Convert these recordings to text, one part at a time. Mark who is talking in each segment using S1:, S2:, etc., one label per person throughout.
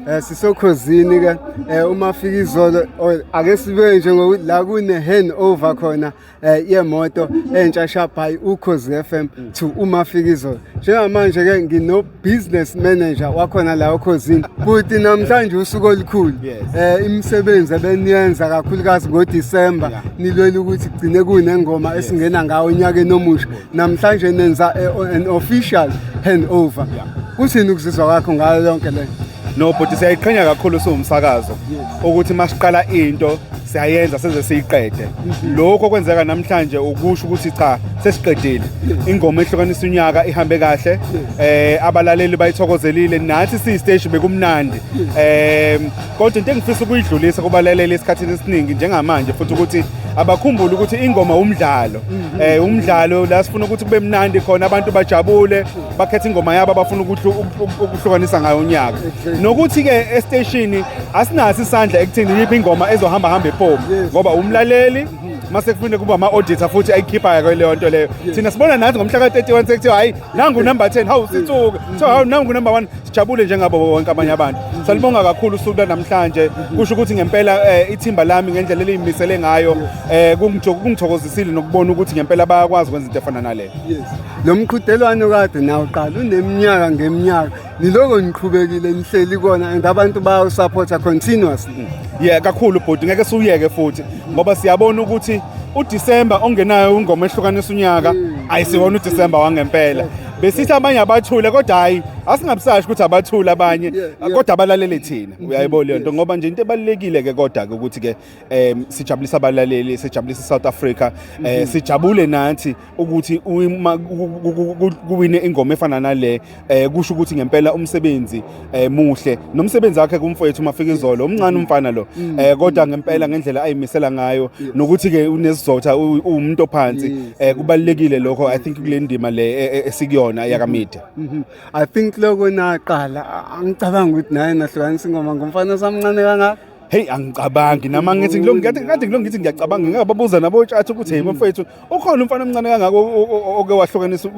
S1: Eh sisokhozini ke eh, uma fika izolo oh, ake sibe nje ngokuthi la kune hand over khona eh, yemoto entsha shabhayi ukhozi FM to uma fika izolo njengamanje ke ngino business manager wakhona la okhozini kuthi namhlanje usuku olukhulu eh imisebenzi ebeniyenza kakhulukazi ngo December nilwela ukuthi gcine kunengoma esingena ngawo unyaka enomusha namhlanje nenza eh, an official handover kuthini ukuzizwa kwakho ngayo yonke le no bhuti siyayiqhenya
S2: kakhulu siwumsakazo ukuthi masiqala into siyayenza seze siyiqede mhm. lokho kwenzeka namhlanje ukusho ukuthi cha sesiqedile ingoma ehlukanisa unyaka ihambe kahle eh abalaleli bayithokozelile nathi siyisteshi bekumnandi eh kodwa into engifisa ukuyidlulisa kubalaleli esikhathini esiningi njengamanje futhi ukuthi abakhumbule ukuthi ingoma umdlalo mhm. eh umdlalo la sifuna ukuthi kube mnandi khona abantu bajabule bakhethe ingoma yabo abafuna ukuhlukanisa ngayo unyaka nokuthi ke esteshini asinasi isandla ekuthini yiphi ingoma ezohamba hamba epomo ngoba umlaleli mhm. mase kufunde kuba ama-auditor futhi ayikhiphayo kweleyo nto leyo thina sibona nathi ngomhla ka-31 sekuthiwa hhayi nangu number 10 hawu sithuke kuthiwa hawu nangu number 1 Sijabule njengabo bonke abanye abantu. Salibonga kakhulu usuku namhlanje. Kusho ukuthi ngempela eh, ithimba lami ngendlela eliyimisele ngayo eh, kungithokozisile nokubona ukuthi ngempela bayakwazi ukwenza into efana nale. Yes. Lo mqhudelwano
S1: kade nawo qala uneminyaka ngeminyaka. Niloko niqhubekile nihleli kona and abantu bayo supporta continuously. Yeah kakhulu
S2: bhuti ngeke siwuyeke futhi ngoba siyabona ukuthi uDisemba ongenayo ingoma ehlukanisa unyaka mm. ayisiwona uDisemba wangempela. besithi abanye abathule kodwa hayi asingabusashi ukuthi abathule abanye kodwa abalalele thina mm-hmm. uyayibona leyo nto ngoba nje into ebalulekile ke kodwa ke ukuthi ke um sijabulisa abalaleli sijabulisa South Africa um mm-hmm. sijabule nathi ukuthi kuwine ingoma efana nale um kusho ukuthi ngempela umsebenzi eh muhle nomsebenzi wakhe kumfowethu uMafikizolo umncane umfana lo mm. eh kodwa ngempela ngendlela ayimisela ngayo nokuthi ke unesizotha umuntu ophansi eh kubalekile lokho i think kule ndima le e, e, esikuyona mm-hmm. yakamedia mm-hmm. i think
S1: lokho naqala angicabanga ukuthi naye nahlukanisa ingoma ngomfana samncane kangaka hey angicabangi
S2: nama ngithi ngilongithi kade ngilongithi ngiyacabanga ngingababuza nabo tshatha ukuthi hey mm-hmm. mfowethu ukhona umfana omncane kangako oke wahlukanisa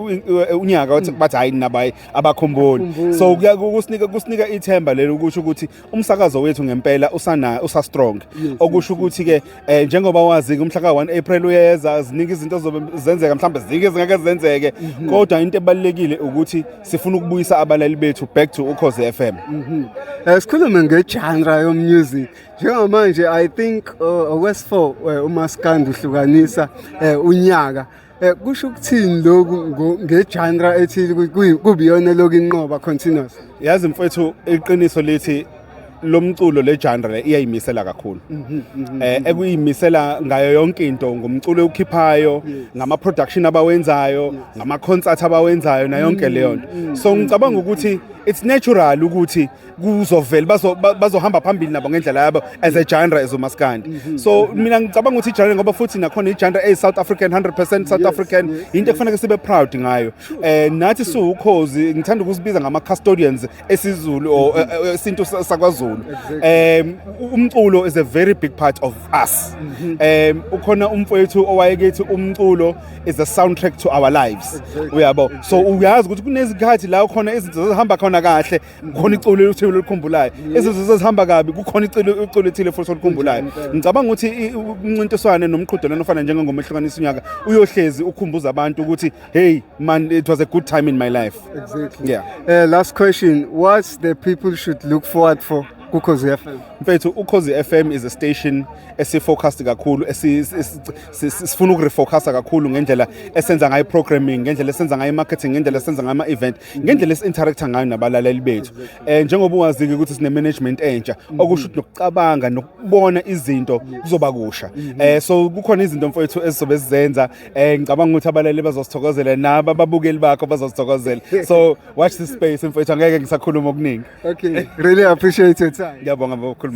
S2: unyaka wathi bathi hayi nabayi abakhumbuli so kusinika kusinika ithemba lelo ukuthi ukuthi umsakazo wethu ngempela usana usa strong okusho ukuthi ke eh, njengoba wazi umhla ka 1 April uyeza ziningi izinto zobe zenzeka mhlawumbe zike zingeke zenzeke mhm. kodwa into ebalekile ukuthi sifuna ukubuyisa abalali bethu back to ukhoze FM mhm. eh, sikhulume
S1: ngegenre yomusic njengamanje i think uh, okwesifo uh, umaskandi uhlukanisa uh, unyaka Eh, kusho ukuthini lokhu ngegenre ethile kubiyona lokhu inqoba continuous yazi mfethu
S2: iqiniso lithi lo mculo le genre le iyayimisela kakhulu mhm, mhm, mhm, eh ekuyimisela ngayo yonke into ngumculo okhiphayo ngama production abawenzayo ngama concert abawenzayo na yonke leyo nto so ngicabanga ukuthi it's natural ukuthi kuzovela bazo bazohamba phambili nabo ngendlela yabo as a genre as umaskandi mhm. so mina ngicabanga ukuthi genre ngoba futhi nakhona igenre e South African 100% South African into ekufanele sibe proud ngayo eh nathi siwukhozi ngithanda ukusibiza ngama custodians esizulu or mhm. eh, eh, isintu sakwaZulu um umculo is a very big part of us um ukhona umfowethu owayekethi umculo is a soundtrack to our lives uyabo so uyazi ukuthi kunezikhathi la khona izinto zihamba khona kahle khona iculo elithile elikhumbulayo izinto zezihamba kabi kukhona iculo iculo ethile futhi olikhumbulayo ngicabanga ukuthi umncintiswane nomqhudelwano ofana njengengoma ehlukanisa unyaka uyohlezi ukhumbuza abantu ukuthi hey man it was a good time in my life exactly yeah uh,
S1: last question what the people should look forward for kukhozi FM mfethu ukhozi
S2: FM is a station esifocused kakhulu sifuna ukurefocusa kakhulu ngendlela esenza ngayo programming ngendlela esenza ngayo marketing ngendlela esenza ngayo ama event ngendlela esiinteract ngayo nabalaleli bethu eh njengoba wazike ukuthi sine management entsha okusho ukuthi nokucabanga nokubona izinto kuzoba kusha eh so kukhona izinto mfowethu ezizobe sizenza eh ngicabanga ukuthi abalaleli bazosithokozela nabo ababukeli bakho bazosithokozela so watch this space
S1: mfowethu
S2: angeke
S1: ngisakhuluma
S2: okuningi
S1: okay
S2: really appreciate
S1: your time
S2: ngiyabonga bokukhuluma